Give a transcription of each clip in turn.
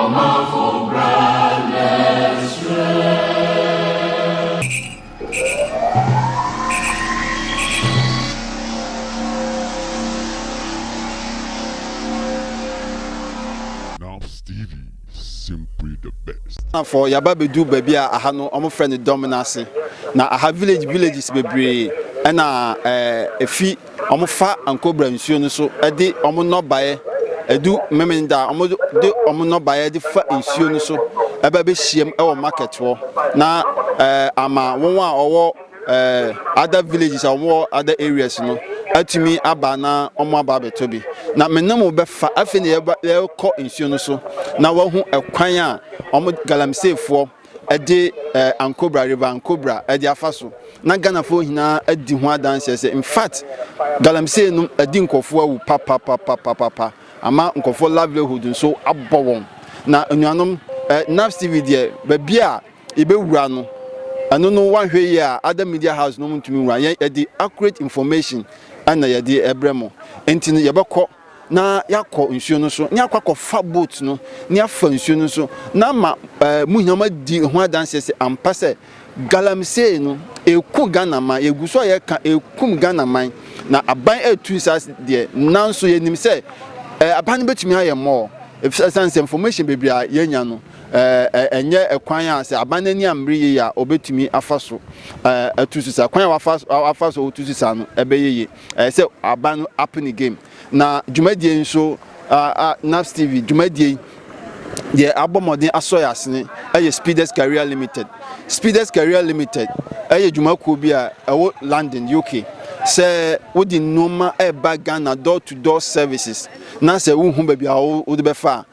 Ɔmanfo bra bɛsrɛ. Ghanafoɔ yɛaba bɛduu baabi a aha no wɔn frɛ no Dɔmenase na aha village villages bebree ɛna ɛfi. wɔfa ankobra nsuo no so de wɔn nnɔbaeɛ, ɛdu Memeneda a, wɔde wɔn nnɔbaeɛ de fa nsuo no so ɛbɛ bɛhyiam wɔ market hɔ na ɛɛ ama wɔn a wɔwɔ ɛɛ other villages a wɔwɔ other areas no atumi aba na wɔn aba abɛtɔ bi. Na me ne mo bɛfa afei na yɛkɔ nsuo no so na wɔahu ɛkwan a wɔn galamseefoɔ de ankobra, riba ankobra, de afa so, na Ghanafoɔ nyinaa adi ho adanseɛ sɛ in fact galamsey nom adi nkurɔfoɔ awu papapapapapa ama nkurɔfoɔ livelihood nso abɔ wɔn na nnuanom eh, NAPS TV deɛ baabi a yɛbɛwura no ɛno no wanhwɛ yie a other media house no ntumi wura yɛn yɛde accurate information ɛna yɛde ɛbrɛ mo nti no yɛbɛkɔ na yɛakɔ nsuo no so, na yɛakɔ akɔfa boat no, na yɛafa nsuo no so, na ama ɛɛ mo nyinaa moadi ho adanseɛ sɛ ampa sɛ galamsey no ɛku Ghana man, yɛgu so a yɛka ɛkum Ghana man, na aban ɛtu saa deɛ, nanso yɛnim sɛ ɛɛ aban no bɛtumi ayɛ more, efisɛ ɛsiane sɛ information bebree a yɛanya no ɛɛ ɛnyɛ ɛkwan a sɛ aban no ani ammere yie a ɔbɛtumi afa so ɛɛ atu so saa, kwan a wafa wafa so ɔtu so saa no ɛbɛyɛ yie. Ɛyɛ sɛ aban no ape ne game. Na dwumadie yi nso, NAPS TV dwumadie yi, deɛ abɔ mmɔden asɔ yɛ asene yɛ Speeders Career Limited. Speeders Career Limited yɛ dwumakuo bi a ɛwɔ London, UK. Sɛ wode nneɛma ɛreba Ghana door to door services na sɛ wohu baabi a wode bɛfa a,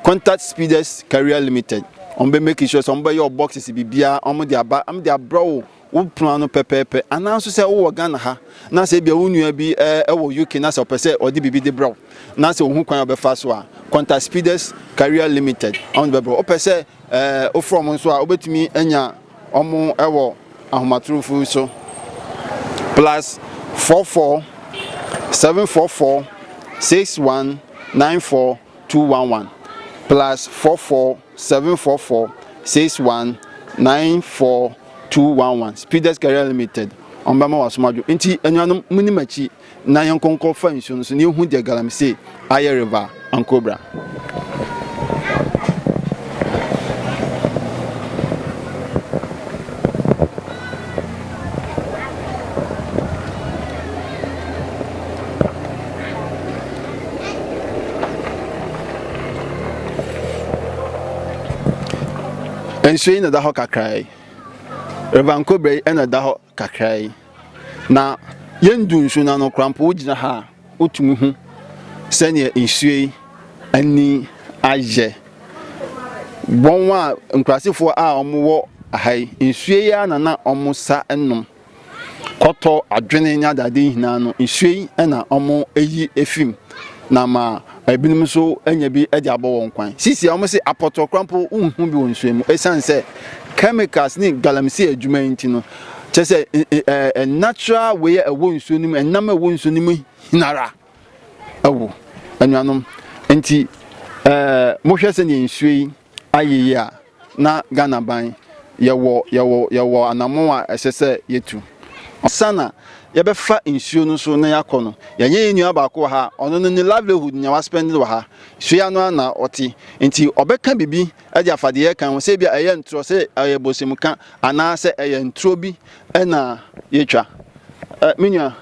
contact Speeders Career Limited. Wɔbɛ make sure sɛ wɔbɛyɛ boxes biribiara wɔde aba wɔde abrɛ wo wo pono ano pɛpɛɛpɛ anaa nso sɛ wowɔ Ghana ha na sɛ ebia wo nua bi wɔ UK na sɛ ɔpɛ sɛ ɔde biribi de brɛ wo na sɛ ohu kwan a ɔbɛfa so a contact Speeders Career Limited ɔmo de bɛbrɛ wopɛ sɛ wofrɛ ɔmo nso a wobɛtumi anya ɔmo wɔ ahomatorofo so plus 44 744 61 94211 plus 44 seven four four six one nine four two one one speeders career limited wɔn bɛma wasom adwo nti anuanom mo ni m'akyi na yɛn nkɔnkɔ fa nsuo no so na yɛhu deɛ galamsey ayɛ river ankobra. Nsuo yi na ɛda hɔ kakra yi river nkobra yi na ɛda hɔ kakra yi na yɛndu nsuo no ano koraa mpo wogyina ha a wotumi hu sɛdeɛ nsuo yi ani ayɛ wɔn a nkurasefoɔ a wɔwɔ ha yi nsuo yi ara na na wɔsa nom. kɔtɔ adwene ne adade nyinaa no nsuo yi na wɔyi efi mu na ma ebinom nso anya bi de abɔ wɔn kwan sisi a wɔn se apɔtɔkora mpo nhu bi wɔ nsuo mu esiane sɛ chemicals ne galamsey adwuma yi nti no kyɛ sɛ natural wei a ɛwɔ nsuo no mu ɛnam a ɛwɔ nsuo no mu hinara. awu. Anuanom, enti mohwɛ sɛdeɛ nsuo yi ayeyɛ a, na Ghana ban, yɛwɔ, yɛwɔ, yɛwɔ anammɔn a ɛsɛ sɛ yɛtu. Ansa na yɛbɛfa nsuo no so na yɛakɔ no, yɛnyɛ yɛn nua baako wɔ ha a, ɔno no ne livelihood nea waspɛnde wɔ ha, nsuo yi ano ara na ɔte. Enti ɔbɛka biribi de afa deɛ yɛreka ho, sɛ ebia ɛyɛ ntorɔ, sɛ ɛyɛ bosemka, anaa sɛ ɛyɛ ntorɔ bi Ɛna yɛtwa. Ɛ me nua,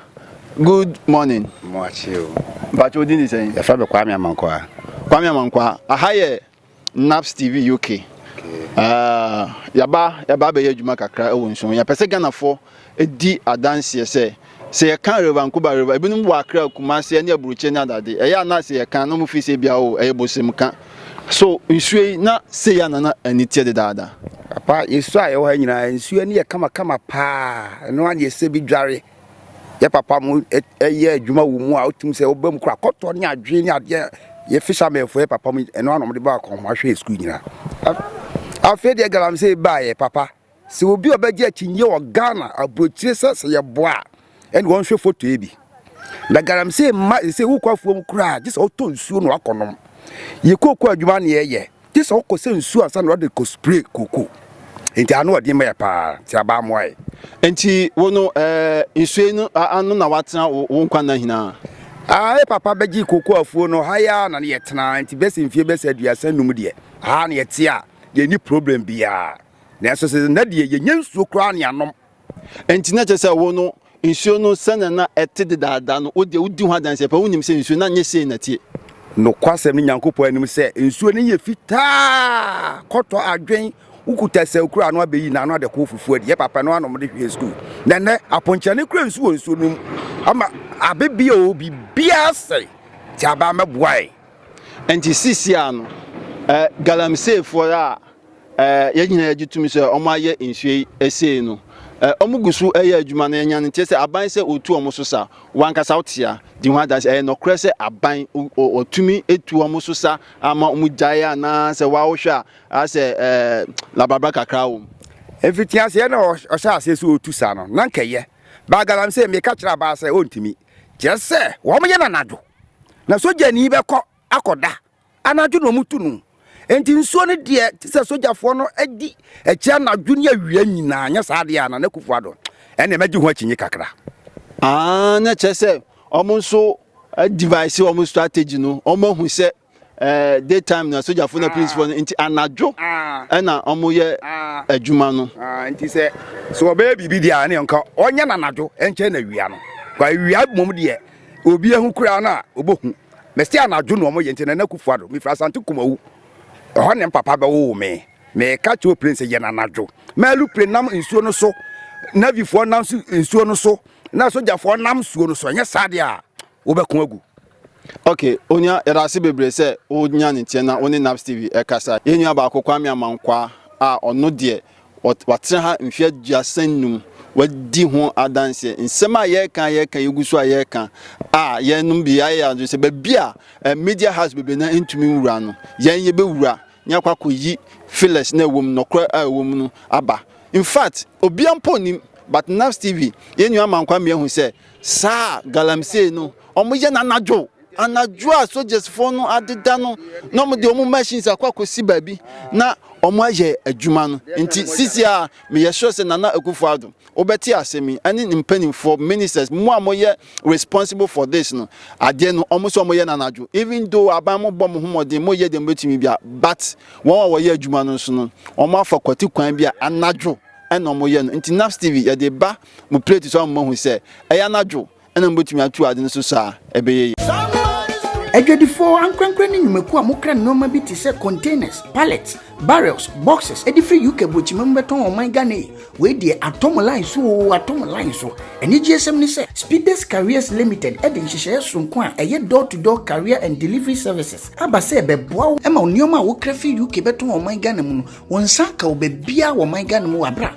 good morning. Mo akye o. Mpakyɛ odin de sɛn? Yɛfrɛ me Kwame Amankwaa. Kwame Amankwaa, aha yɛ Naps TV UK. Uh, yaba yaba bɛyɛ adwuma kakra ɛwɔ nsuo. Yɛpɛ sɛ Ghanafoɔ di adanseɛ sɛ Sɛ yɛka Rev. Ankoba Rev. Ebinom wɔ Accra, Kumasi, ɛne Aburokyire ne adade. Ɛyɛ a na sɛ yɛka na wɔfiri sɛ ebia oh, ɛyɛ bosem ka. So nsuo yi na sei a na na ani teɛ dedaada? Papa, yɛsu a yɛwɔ ha nyinaa, nsuo ani yɛ kamakama paa. Ɛno ara na yɛsɛ bi dware. Yɛ papa mo yɛ adwuma wɔ mu a, wotum sɛ woba mu kora kɔtɔ ne adwene ne adeɛ. Yɛ fishermen fo yɛ papa mo, ɛno ara na wɔde ba akɔnhoma hwɛ yɛ sukuu nyinaa. Afei deɛ galamsey baeɛ papa. Sɛ obi a ɔbɛgye akyinnye wɔ Ghana aburokyire sɛ sɛ yɛboa a, ɛne ɔnhwɛ foto yi bi. Na galamsey mma sɛ wokɔ afuom koraa gye sɛ wotɔ nsuo na wakɔnom. Yɛ kooko adwuma na yɛyɛ gye sɛ wokɔ sɛ nsuo ansa na wɔde kɔ spray kooko. Enti ano ɔden ma yɛ paa, nti aba mmoa yɛ. Enti wo no eh, nsuo yi no ano na watena wo nkwa nna nyinaa? Ah, yɛ papa bɛgye kooko afuo no, ha yɛ na ne yɛtena, nti bɛsi mfie bɛsi aduasa num deɛ, ha na yɛte a, yɛnni problem biara. Nanso sɛ nna deɛ yɛnya nsuo koraa ne anom. Nti na kyerɛ sɛ wo no nsuo no sɛnea na ɛte dedaada no wo deɛ wodi ho adanseɛ paa wonim sɛ nsuo na nyɛ sei na tie. Nokwasɛm ne Nyankopɔn anim sɛ nsuo no yɛ fitaa kɔtɔ adwen wokuta sɛ okura ano abɛyi na ano adɛ kɔɔ fufuo adi yɛ papa no anom de hwee sukuu na nnɛ aponkyerɛ ne kura nsu wɔ nsuo no mu ama abe bi o biribiara sɛe ti abaa mɛboae. Nti sisia no eh, galamseyfoɔ a yɛn nyinaa yɛgye tom sɛ wɔn ayɛ nsuo yi ɛsei no wɔn gu so ɛyɛ adwuma no yɛnya no nkyɛ sɛ aban sɛ otu wɔn so sa wankasa wotea di ho adanse ɛyɛ nɔkorɛ sɛ aban ɔtumi etu wɔn so sa ama wɔn gyae anaa sɛ wawohwɛ a asɛ ɛɛ labrabra kakra wɔm. efiti aseɛ na ɔhyɛ aseɛ sɛ otu sa no na nkɛyɛ baagalam sɛ meka kyerɛ abaa sɛ ɔntumi kyerɛ sɛ wɔn yɛ nanadwo na sogyani bɛkɔ akɔda Anadwo na wɔtu no, enti nsuo no deɛ te sɛ sogyafoɔ no di akyi anadwo ne awia nyinaa, nyɛ saa deɛ a Nana Akufo-Addo ɛnneɛ mɛgye ho akyinnye kakra. Ah, na kyerɛ sɛ wɔn nso device wɔn strategy no, wɔn ahu sɛ eh, daytime na sogyafo na policefoɔ no, nti anadwo ɛna wɔn yɛ adwuma no. Nti sɛ sɛ wɔbɛyɛ biribi deɛ a, ɛne nka wɔnyɛ no anadwo ɛnkyɛn na awia no, kwa awia mmom deɛ Obi ahu koraa no a ɔbɛhu. Mese anadwo na wɔyɛ nti Nana Akufo Addo. Mefiri Asante Kumawu. Ɛhɔ na me papa bɛwoo me. Meka kyerɛ oplane sɛ yɛn anadwo. Ma aeroplane nam nsuo no so, Navyfoɔ nam so nsuo no so, na sogyafoɔ nam nsuo no so. Ɛnyɛ saa deɛ a, wobɛko agu. Ok, onua yɛda ase bebree sɛ wonya ne nteɛ na wo ne NAPS TV ɛkasa. Yɛn nua baako Kwame Amankwaa a ɔno deɛ Watena ha mfe aduasa nnum. Wadi ho adanseɛ. Nsɛm a yɛreka a yɛreka yɛgu so a yɛreka a yɛnom bi ayɛ adwene sɛ baabi a eh, media house bebree na ntumi nwura no yɛn yɛbɛwura ne akɔ akɔyi files na ɛwɔ mu nɔkorɛ a ɛwɔ mu no aba in fact obia mpo nim but Nafs TV yɛn nua Mankwame ahu sɛ saa galamsey no wɔyɛ no anadwo Anadwo a sogyasfoɔ no adeda no na wɔde wɔn machines akɔ akɔsi baabi na wɔayɛ adwuma no nti sisi a meyɛ sure sɛ Nana Akufo-Addo wobɛte asɛm yi ɛne ne mpanimfoɔ ministers mo a moyɛ responsible for this no adeɛ no wɔn sɛ wɔyɛ no anadwo even though aban mo bɔ mo ho mmɔden moyɛ deɛ mobɛtumi bia but wɔn a wɔyɛ adwuma no nso no wɔn afa kwati kwan bi a anadwo ɛna wɔyɛ no nti Naps TV yɛde ba mo plate so a mo mahu sɛ ɛyɛ anadwo na mobɛtumi ato ade no so so a, ɛbɛyɛ yie. Adwadifoɔ ankorankorɛ ne nnwumakuo a mokra nnoɔma bi te sɛ containers, pallets, barrels, boxes de firi UK Aburokyima mu bɛtɔn ɔman Ghana yi, wei deɛ atɔ mo line so oo, atɔ mo line so. Anigyeɛsɛm ne sɛ, Speeders Carriers Limited de nhyehyɛeɛ soronko a ɛyɛ Door to Door Carrier and Delivery Services aba sɛ ɛbɛboa wo ma wo nnoɔma a wokra firi UK bɛtɔn ɔman Ghana mu no, wonsan ka wo baabiara wɔ ɔman Ghana mu wɔ aberɛ a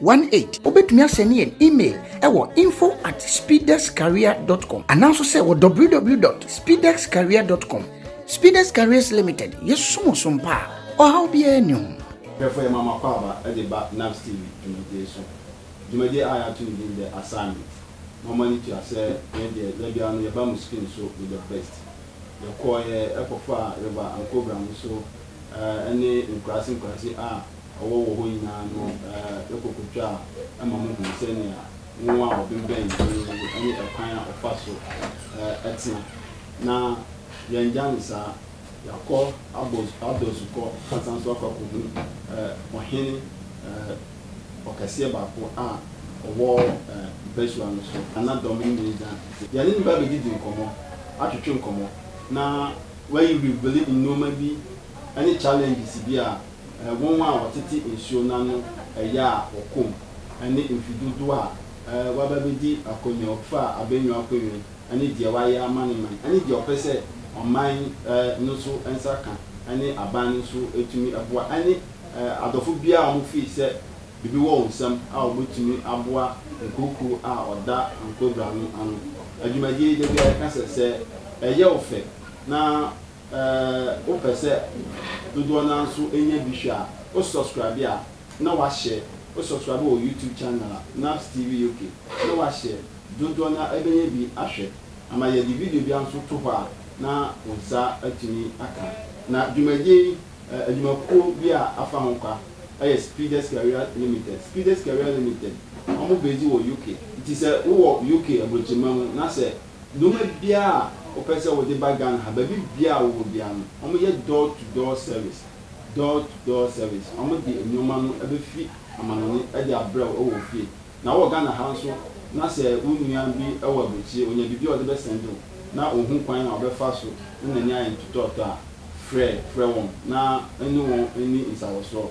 one eight. Wobɛtumi asɛne yɛn email wɔ info at speedexcareer.com ananso sɛ wɔ www.speedexcareer.com. Speedex Careers Limited, yɛsom wo som pa a ɔhaw biara nni ho. Hwɛfo yɛ Mama Kwaba de ba NABS TV dwumadie so. Dwumadie a yɛato no din The Assignment. Mo mo ani tua sɛ yɛn deɛ da biara no yɛba mo screen so with the best. Yɛkɔɔeɛ kɔfaa River and Cobra nso ne nkuraase nkuraase a ɔwɔ wɔ hɔ nyinaa no kɔ kotwaa ma muhuu sɛnea nwonwa a ɔbemmɛn din no ne ɛkwan a ɔfa so tena. Na yɛanngya no saa. Yɛakɔ abɔ adɔsu kɔ asan nso akɔ akɔhu ɔhene ɔkɛseɛ baako a ɔwɔ mpasua no so, na dɔm no nyinaa gyina n'akyi. Yɛne no bɛba abɛdidi nkɔmmɔ, atwetwe nkɔmmɔ, na wayi Bibeli nnoɔma bi ne challenges bi a Wɔn a wɔtete nsuo no ano yɛ a wɔkɔm ne mfe dodoɔ a waba abɛdi akonnwa ɔfa abɛnwa akonnwa ne deɛ wayɛ ama ne man ne deɛ ɔpɛ sɛ ɔman no nso nsa ka ne aban no nso tumi boa ne adɔfo biara a wɔfii sɛ biribi wɔ wɔn nsam a wɔbɛtumi aboa nkurokuo a ɔda nkobrano ano adwumadie yi da biara yɛka sɛ sɛ ɛyɛ wo fɛ na Wopɛ sɛ dodoɔ no ara nso nya bi hwɛ a, wo subscribe a na wahyɛ, wo subscribe wɔ YouTube channel a, Naps TV UK, na wahyɛ dodoɔ no ara bɛnya bi ahwɛ. Ama yɛde video biara nso to hɔ a na wo nsa atumi aka. Na dwumadie yi, adwumakuo bi a afa ho kwa yɛ Speeders Career Limited. Speeders Career Limited, wɔn base wɔ UK. Nti sɛ wowɔ UK aburokyirimma mu na sɛ Nnoɔma biara a wopɛ sɛ wode ba Ghana ha, baabi biara a wowɔ biara no, wɔyɛ door to door service, door to door service, wɔde nnoɔma no bɛfiri amanɔne de abrɛ wo wɔ wo fie. Na wowɔ Ghana ha nso na sɛ wo nua bi wɔ aburokyire, ɔnya biribi a ɔde bɛsɛnde wo na ɔnhu kwan a ɔbɛfa so ne n'ani ayɛ ntotɔɔtɔ a, frɛ frɛ wɔn na ne wɔn nni nsawɔsoɔ.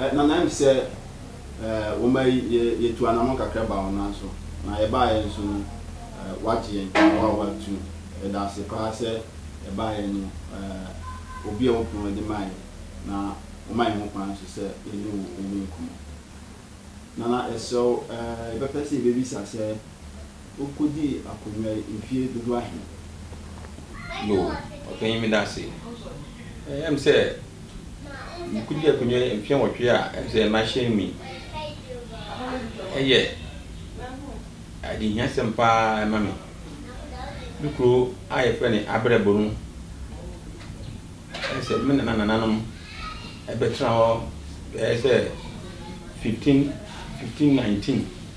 Eh, na nayɛm sɛ eh, woma yi yɛ yɛtu anamɔ kakra ba wo nan so, na yɛbaeɛ nso no eh, wagye yɛn na wo a watu. Yɛda ase paa sɛ yɛbaeɛ no eh, obi a wopon adi maa yɛn, na woma yɛn ho kwan nso sɛ yɛne wo yɛdi nkɔmmɔ. Nana, yɛsrɛ wo eh, yɛbɛpɛ sɛ yɛbɛbisa sɛ. Wokodii akonnwa yi mfie dodow ahe? Yoo, ɔpanyin meda ase. Ɛyɛ me sɛ mekodii akonnwa yi mfe nwɔtwe a ɛne sɛ mahyɛn mu yi. Ɛyɛ adehiasɛm paa ma me. Me kurow a wɔfrɛ no Abrɛbo no, ɛyɛ sɛ me ne m'anananom bɛtena hɔ bɛyɛ sɛ fifteen, fifteen, nineteen.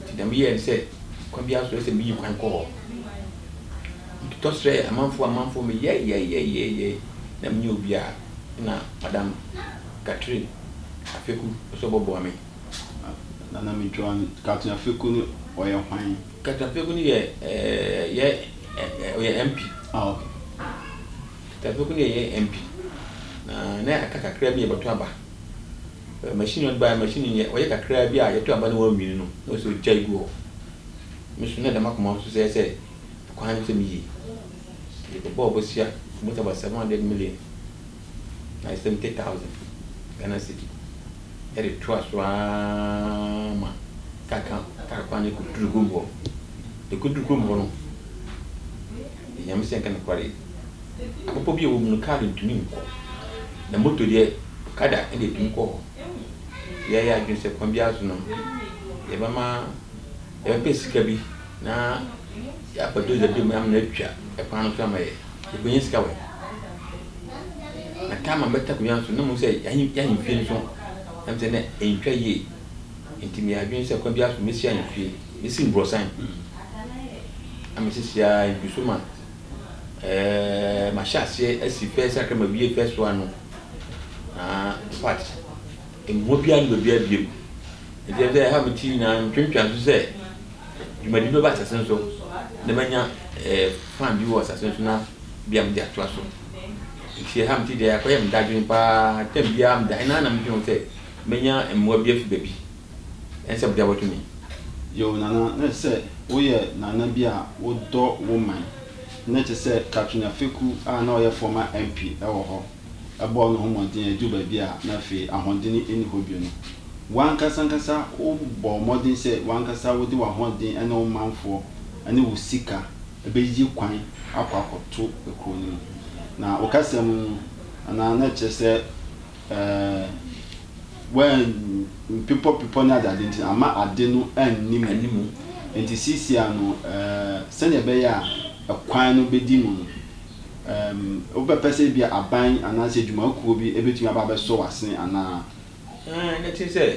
Enti dɛm yɛɛ no sɛ kwan biara so sɛ miyi kwan kɔ hɔ. Mototɔ srɛɛ amamfo amamfo me yɛɛyɛɛyɛɛyɛɛyɛɛy na mennyɛ obi a nna Madam Catherine Afeku pɛ sɛ ɔbɔboa me. Na na mentwa wan. Catherine Afeku no ɔyɛ hwan? Catherine Afeku no yɛ yɛ ɔyɛ MP. Ah ok. Catherine Afeku no yɛ yɛ MP. Na na aka kakraa bi yɛbɔto aba. Machine no bae, machine no nyɛ, ɔyɛ kakraa bi a yɛto aba na wanwini no na ɔsɛ ɔgyae gu hɔ. Me nso na da m'akoma so sɛɛ sɛ ɛkwan no sɛ meyie. Nti mebɔɔ bosea, it was about 700 million na 70,000 Ghana cedi de toa so ara ma kar kwan no kɔduru kurom hɔ. Ɛkɔduru kurom hɔ no. Ehia me sɛ nka nokware yi. Bepɔ bi a ɛwɔ mu no, kaa de ntumi nkɔ. Na moto deɛ, okada na ɛtumi kɔ hɔ. Nti yɛayɛ adwene sɛ kwan biara so no, yɛbɛma, yɛbɛpɛ sika bi na yɛafa dozer bi ama no atwa kwan no so ama yɛn. Yɛbɛnya sika wɛn. Na taama mɛtɔ akonnwa no so, na mehu sɛ yɛn ahemfie no nso, na mehu sɛ na ɛntwa yie. Enti me adwene sɛ kwan biara so mesi ayɛ fie, mesi mbrɔsan na mesi si ara egu so ma ɛɛ mahyɛ aseɛ asi fɛs akra ma wie fɛs wa no na part mmoa biara ne baabi abie mu. Enti ɛsɛ ɛha me ti nyinaa ntwentwɛn so sɛ dwumadi bi bɛba asase no so na manya ɛɛ plan bi wɔ asase no so na bi a mede atoa so. Enti ɛha me ti deɛ akɔyɛ me dadwene paa tam biara meda he na na medwene ho sɛ. Menya mmoa bi afi baabi. Ɛnsɛ sɛ mede abɔto me. Yoh. Nana, na ɛsɛ sɛ woyɛ nana bi a wodɔ wo man. Ná ɛte sɛ Catherine Afeku a na ɔyɛ former MP wɔ hɔ. Ɛbɔɔ ne ho mmɔden a eduu baabi a na afei ahoɔden nni hɔ bio no, w'ankasa ankasa wobɔɔ mmɔden sɛ w'ankasa wode w'ahoɔden ne wo manfoɔ ne wo sika bɛyi kwan akɔ akɔto kurow no mu. Na wo kasa mu no, Nana, na ɛkyerɛ sɛ. Ɛɛ, wɛn mpepɔpepɔ ne adeade nti no, amma ade no anni mu. Anni mu. Enti seesei no, ɛɛ, sɛnea ɛbɛyɛ a ɛkwan no bedi mu no, ɛɛm, wobɛpɛ sɛ ebia aban anaasɛ adwumakuo bi betumi aba abɛsɔ w'asene anaa? Ɛɛ, na ɛte sɛ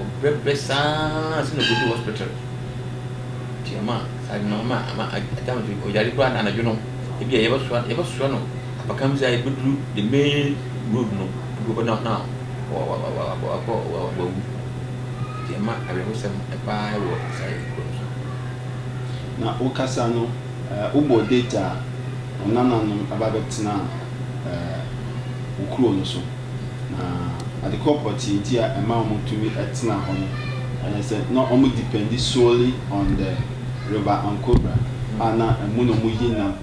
Ɔbrɛbrɛ saa ara sɛ na ɔkɔduu hospital. Nti ama saa ade no ama ama agya no so ɔyare koraa na anadwo no ebi a yɛbɛsoa yɛbɛsoa no apakan bi sɛ a yɛbɛduru the main road no ebi wɔ hɔ na na wa- wa- wa- wa- wakɔ wa- wa- wawu nti ɛma awerɛhosɛm paa wɔ saa yɛ kuro no so Na wo kasa no, eh, wo bɔɔ date a wo nananom aba bɛtenaa eh, wo kuro no so. Na ade koro pɔtee nti a ɛma wɔn tumi tena hɔ no ɛyɛ sɛ na wɔn dependi solely on the river Ancobra a na ɛmu na wɔn yi nam.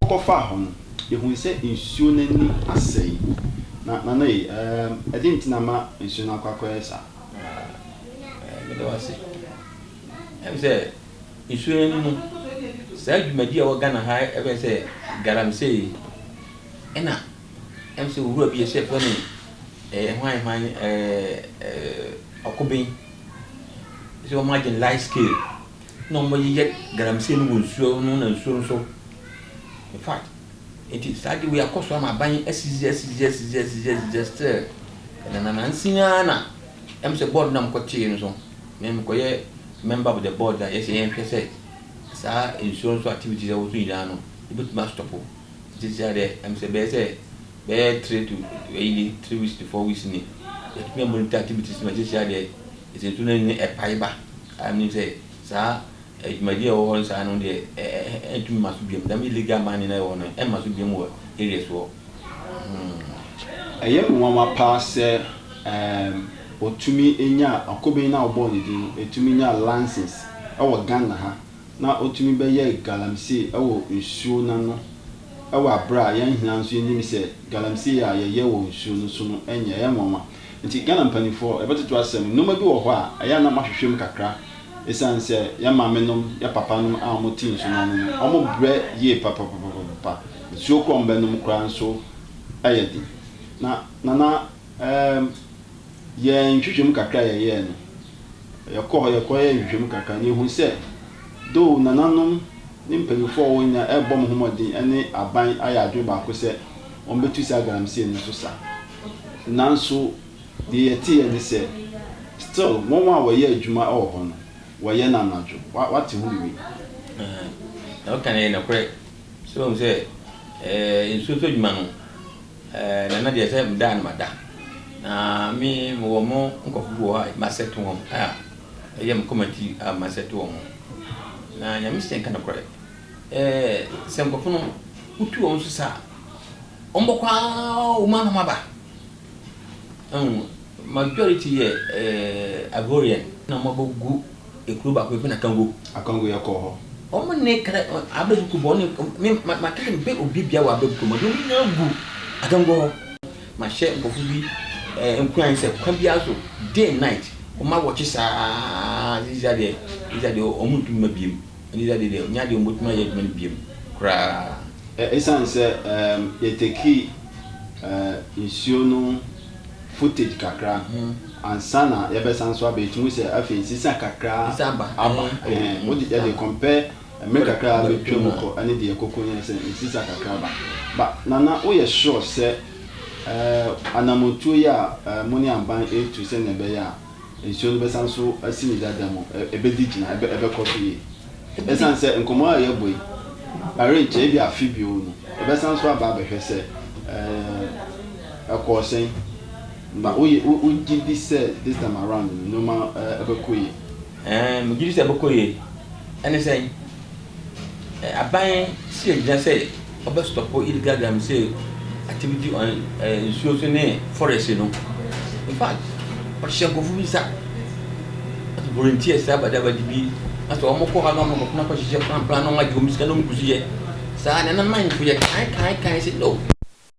Wɔn kɔ faa hɔ no yɛhuu sɛ nsuo no ani asɛe. Na Nana ei ɛɛm ɛde nti na ama nsuo no akɔ akɔyɛ saa. Ɛɛɛ meda wo ase. Ɛm sɛ. Nsuyɛn no mu, saa dwumadi a ɛwɔ Ghana ha yi bɛn sɛ galamsey yi. Ɛna ɛm sɛ owura bi a ɛhyɛ fɛ no ɛɛ hwan hwan ɛɛ ɔkoben sɛ wɔn agye no light scale na wɔn yeyɛ galamsey no wɔ nsuo no na nsuo no so. In fact, nti saa de wei akɔ so ama aban asisi asisi asisi asisi asisi still ɛnananansi ara na ɛm sɛ board no na wɔkɔtee no so. na mekɔyɛ member of the board na yɛsɛ yɛnhwɛ sɛ saa nsuo nso activities ɛwɔ so nyinaa no yɛbɛtumi astɔpo nti sɛ deɛ ɛm sɛ bɛyɛ sɛ bɛyɛ three to ɛyi ni three weeks to four weeks ni yɛtumi amonitor activities no sɛ deɛ ɛsɛ nsuo no ani no ɛpae ba a menim sɛ saa adwumadie a ɛwɔ hɔ no saa no deɛ ɛntumi ma so biam dɛm illegal mining na ɛwɔ no ɛmma so biam wɔ areas wɔ hmm. Ɛyɛ nwanwa paa sɛ um, Ɔtumi nyaa, ɔkoben no a wɔbɔɔ no din no, ɛtumi nyaa lances wɔ Ghana ha, na ɔtumi bɛyɛɛ galamsey wɔ nsuo no ano wɔ aberɛ a yɛn nyinaa nso yɛnim sɛ galamsey a yɛyɛ wɔ nsuo no so no nyɛ, ɛyɛ nwanwa. Nti Ghana mpaninfoɔ, yɛbɛtoto asɛm no, nnoɔma bi wɔ hɔ a, ɛyɛ a na moahwehwɛ mu kakra, ɛsiane sɛ yɛn maame nom, yɛn papa nom a wɔte nsuo no ano no, wɔn brɛ yie papapapapapa, nsuo korɔ a wɔbɛnom koraa nso yɛ den. Na Nana. Ɛɛm, yɛn nhwehwɛmu kakra a yɛyɛɛ no, yɛkɔɔ hɔ, yɛkɔyɛɛ nhwehwɛmu kakra na yɛhuu sɛ, though nananom ne mpanyimfo a wɔwɔ hɔ nyinaa rebɔ wɔn ho mmɔden ne aban ayɛ adwene baako sɛ wɔbetu saa galamsey no so sa, nanso deɛ yɛteeɛ ne sɛ, still wɔn a wɔyɛ adwuma wɔ hɔ no, wɔyɛ no anadwo. Wa, wate ho biribi? Ɛɛm, deɛ woka no yɛ nokorɛ. So woahu sɛ, ɛɛ, nsuo so adwuma no, Eh nana deɛ sɛ meda a na mada na me mewɔ mo nkɔfo bi wɔ hɔ a m'asɛte wɔn a ɛyɛ me kɔma tiri a m'asɛte wɔn na nyame sɛ nka nokorɛ eh sɛ nkɔfo no wotu wɔn so sa a wɔn bɔkɔ aa wɔn ano maba ɛhu majority yɛ eh Ivorian na wɔn abɔ gu Ekuro baako yɛfrɛ no Akango. Akango yɛ kɔɔ hɔ. Wɔn ne kra abɛbuku bɔ ne me ma ma kɛkɛ bɛ obi bia wɔ abɛbuku mɔ de wɔn nyinaa gu Akango hɔ. Ma hyɛ nkɔfo bi ɛɛ nkuran sɛ kwan bi aso day and night wɔn awɔkye saa ziza deɛ ziza deɛ wɔn ntumi ma biem ziza deɛ deɛ nyɛ adeɛ wɔn bɛtumi ayɛ adwuma no biem koraa. Ɛsan sɛ ɛɛ yɛtekii ɛɛ nsuo no. footage kakra ansa na yɛbɛsan nso aba ɛtumi sɛ afei nsesa kakra aba wode yɛde compare mmerɛ kakra bɛtwa mu kɔ ɛne deɛ ɛkɔkɔ nyɛ sɛ nsesa kakra aba ba nana woyɛ sure sɛ anamotuo yi a mo ne aban ɛretu sɛdeɛ ɛbɛyɛ a Nsuo no bɛsan so asi ne dada mu, ɛbɛdi gyina, ɛbɛkɔ so yie. Ɛsiane sɛ nkɔmmɔ a yɛabɔ yi, ɛrenkyɛ, ebia afe bio no, yɛbɛsan so aba abɛhwɛ sɛ ɛkɔɔ sɛn. Na wogye di sɛ this time around no, nneɛma bɛkɔ yie? Ɛɛ, megye di sɛ ɛbɛkɔ yie. Ɛne sɛn? Aban si agyina sɛ ɔbɛ stop illegal galamsey activity on nsuo so ne forest no infact ɔhyɛ nkorɔfo bi nsa as volunteers saa bada bada bi asɛ ɔmo kɔ hɔ na ɔmo akɔ na akɔ hyehyɛ plan plan na ɔmo agye ɔmo sika na ɔmo gu so yɛ saa nana mine fo yɛ kan kan kan sɛ no.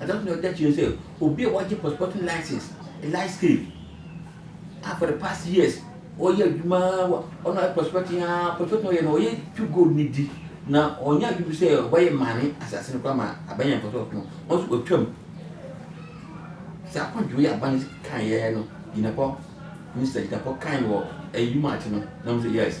Adze a ɔtɔ do a ɔda ekyir nye dɛ, obi a ɔagye pɔtɔpɔtɔ license, light scale, a for the past years ɔyɛ edwuma ara wɔ ɔno ɔyɛ prospecting ara, prospecting a ɔyɛ no ɔyɛ tu gold no dzi na ɔnnyɛ adwen mpo sɛ ɔbɛyɛ maame asaase no koraa ma abɛyɛ ne pɔtɔpɔtɔ no, ɔno so otwa mu. Dza akɔndɔw yi aban kãe yɛe no, gyinapɔ, minister gyinapɔ kãe no wɔ eyi March no na ɔno so yes.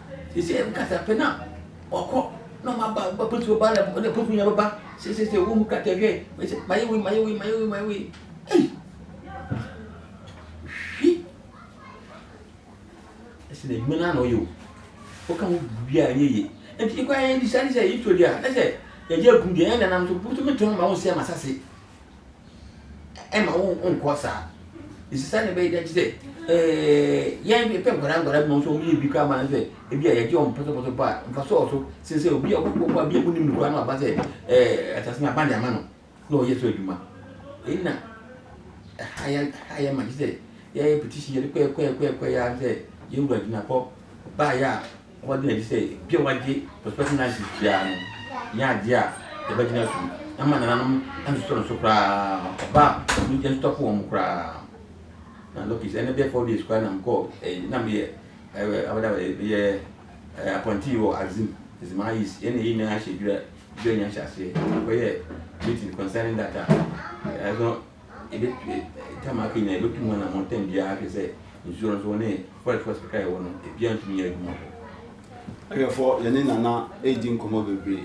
Seesei wo kasape no a ɔkɔ na ɔma ba ba polisi bɛba na ɛna polisi nyinaa bɛba seesei wo mu krataa hwɛ ɛsɛ mayɛ wei mayɛ wei mayɛ wei mayɛ wei ei hwi ɛsɛ na adwuma no ana ɔyɛ o woka ho biribiara ɛnyɛ yie nti kɔ ayɛ de sane sɛ yɛtɔ di a ɛsɛ yɛyɛ akum deɛ ɛyɛ nanam so bosom tɔn ma wo nsɛ ma sase ɛma wo nkɔ saa ɛsi saa na ɛbɛyɛ dɛn te sɛ yɛn de pɛ nkwadaa nkwadaa mu nso wɔn yɛ bi kura ma sɛ ebi a yɛgye wɔn pɔtɔpɔtɔ pa nfa so ɔso sɛ sɛ obi a ɔkɔ kɔ pa bi a mu nim nukura no aba sɛ ɛɛ asase na aba de ama no na ɔyɛ so adwuma ɛna ɛha yɛ ɛha yɛ ma te sɛ yɛyɛ petition yɛde kɔɛ kɔɛ kɔɛ kɔɛ yɛ sɛ yɛwura gyina kɔ baayɛ a Ɔma ɛda no adi sɛ bere a wɔagye Prospecting License biara no nyɛ ade a yɛbɛgyina so ama nananom antotɔ no so koraa ma ɔba a ɔno gye ntotɔ po wɔn koraa. Na Lokis, ɛnnɛ bɛyɛ four days koraa na mekɔɔ ɛyi na meyɛ ɛɛ abɛda abɛda meyɛ ɛɛ apɔntii wɔ Axim, Zema East, yɛn na yɛn nyinaa hyɛ dwira dwira nyanhyɛ aseɛ na mekɔyɛɛ meeting concerning that a ɛno Hwɛfoɔ, yɛ ne Nana redi nkɔmmɔ bebree,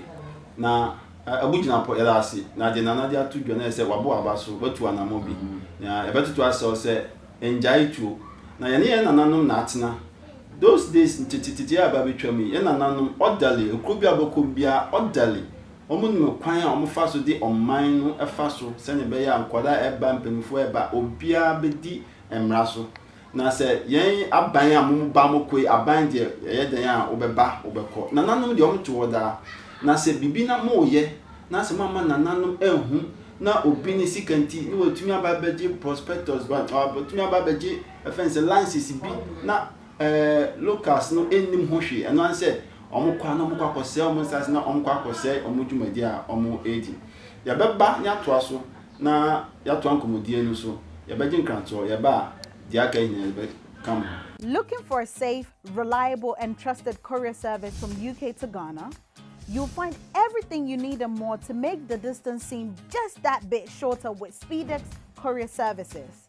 na abu gyina pɔ, yɛda ase, na deɛ Nana de ato dwa no ayɛ sɛ wabo aba so, watu anammɔn bi, na yɛbɛtoto asrɛ wo sɛ nnyae tuo, na yɛne yɛn nananom na atena, those days nteteteteɛ a ɛreba abɛtwam yi, yɛn nananom, orderly, ekuro bi a wobɛkɔ biara, orderly, Wɔnim kwan a wɔfa so de ɔman no fa so sɛnea ɛbɛyɛ a nkwadaa a ɛreba, mpanyimfoɔ a ɛreba, obiara bɛdi mmara so. Na sɛ yɛn aban a moba mokoe, aban deɛ ɛyɛ dɛn a wobɛba wobɛkɔ. Nananom deɛ wɔte hɔ daa. Na sɛ biribi na moreyɛ na sɛ moamma nananom anhu na obi ne sika nti na watumi aba abɛgye prospectus, watumi aba abɛgye ɛfɛn sɛ license bi na Ɛɛ, locusts no nnim ho hwee, ɛno ara ne sɛ wɔkɔ a na wɔkɔ akɔsɛe wɔn nsase na wɔkɔ akɔsɛe wɔn dwumadi a wɔredi. Yɛbɛba na yɛatoa so na yɛatoa nkɔmmɔdie no so. Yɛbɛgye nkrantoɔ, yɛba a deɛ aka yi nyinaa yɛbɛka mo ho. Looking for a safe, reliable and trusted courier service from UK to Ghana? You'll find everything you need and more to make the distance seem just that bit shorter with Speedex Courier Services.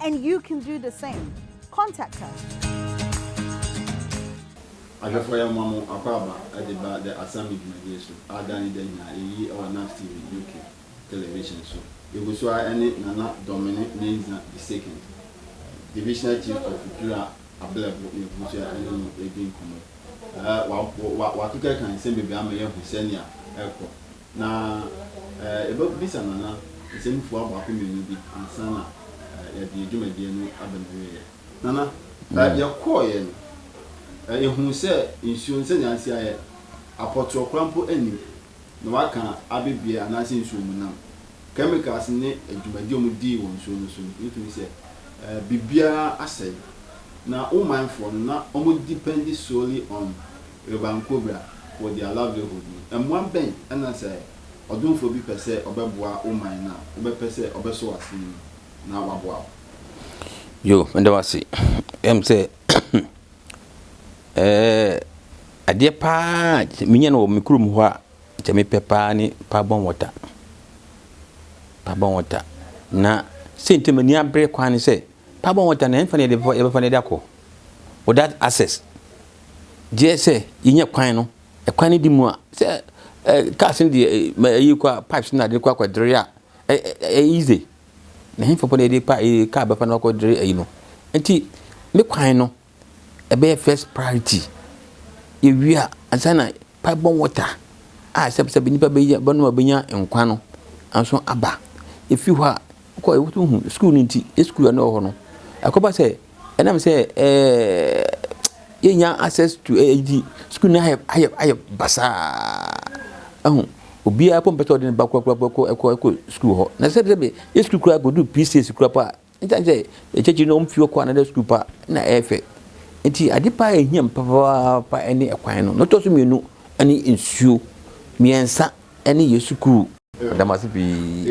And you can do the same. Contact us. Ahwɛfoɔ yɛn mmoa mo akwaaba de ba The Assemble dwumadie so a da ne da nyinaa yɛyi wɔ Naps TV UK Television so. Yɛgu so ara ne Nana Domene Mensah the Second, Divisional Chief of Dura Ablɛbo na yɛgu so ara ne no redi nkɔmmɔ. Watoto kan nsɛm bebree ama yɛahu sɛnea ɛrekɔ Na yɛbɛbisa Nana nsɛmfua baako mmienu bi ansa na yɛde yɛn dwumadie no aba n'awieɛ. Nana, yɛkɔeɛ no, yɛhuu sɛ nsuo no sɛdeɛ asi ayɛ, apɔtorɔ koraa mpo nnim, na wɔaka abɛbie anaasɛ nsuomunam, chemicals ne dwumadie a wɔdii wɔ nsuo no so no, yɛtumi sɛ biribiara asɛe. Na wo manfoɔ no, na wɔdependi solely on Urban Cobra wɔ their livelihood mu. Mmoa bɛn na sɛ ɔdomfoɔ bi pɛ sɛ ɔbɛboa wo man no a, wobɛpɛ sɛ ɔbɛsɔ w'asene mu na waboa wo? Yo, meda wo ase. Ɛm sɛ adeɛ paa a menya no wɔ me kurom hɔ a kyɛ mepɛ paa ne Pabon water. Pabon water. Na sɛ nti m'ani abere kwan ne sɛ Paabɔ ho tan, ɛhefa na yɛde bɛfa, yɛbɛfa na yɛde akɔ? Well, that access. Gyeɛ sɛ yɛnya kwan no, ɛkwan no di mu a, sɛ eh, cars no deɛ eh, ma ɛyi kɔ a, pipes no na de kɔ akɔ dere a, eh, eh, eh, eh, easy. Na ɛhefa po na yɛde pa, eh, car bɛfa na wakɔ dere ayi no. Nti, ne kwan no, ɛbɛyɛ first priority. Yɛwie a, ansa na pipe borne water a sɛbsɛb nnipa bɛyɛ bɛnom a bɛnya nkwa no nso aba. Ɛfiri hɔ a, wokɔ a wotumi hu sukuu no nti, yɛ sukuu a na ɛwɔ hɔ no, ɛkɔba sɛ ɛnam sɛ ɛɛɛ yɛnnya access to ɛɛ nti, sukuu no ayɛ ayɛ ayɛ basaa. Ahu, obiara mpo mpɛ sɛ ɔde ne ba korakoraa kɔ kɔ kɔ sukuu hɔ. Na sɛbsɛb yɛ sukuu koraa kɔduru P6 koraa mpo a, Esiane sɛ akyirikyiri no wɔmfi hɔ kɔ another sukuu pa na ɛyɛ fɛ nti, ade pa a ehia me papaapa ne kwan no. Nea ɛtɔ so mmienu ne nsuo. Mmiɛnsa ne yɛn sukuu. Meda mo ase pii.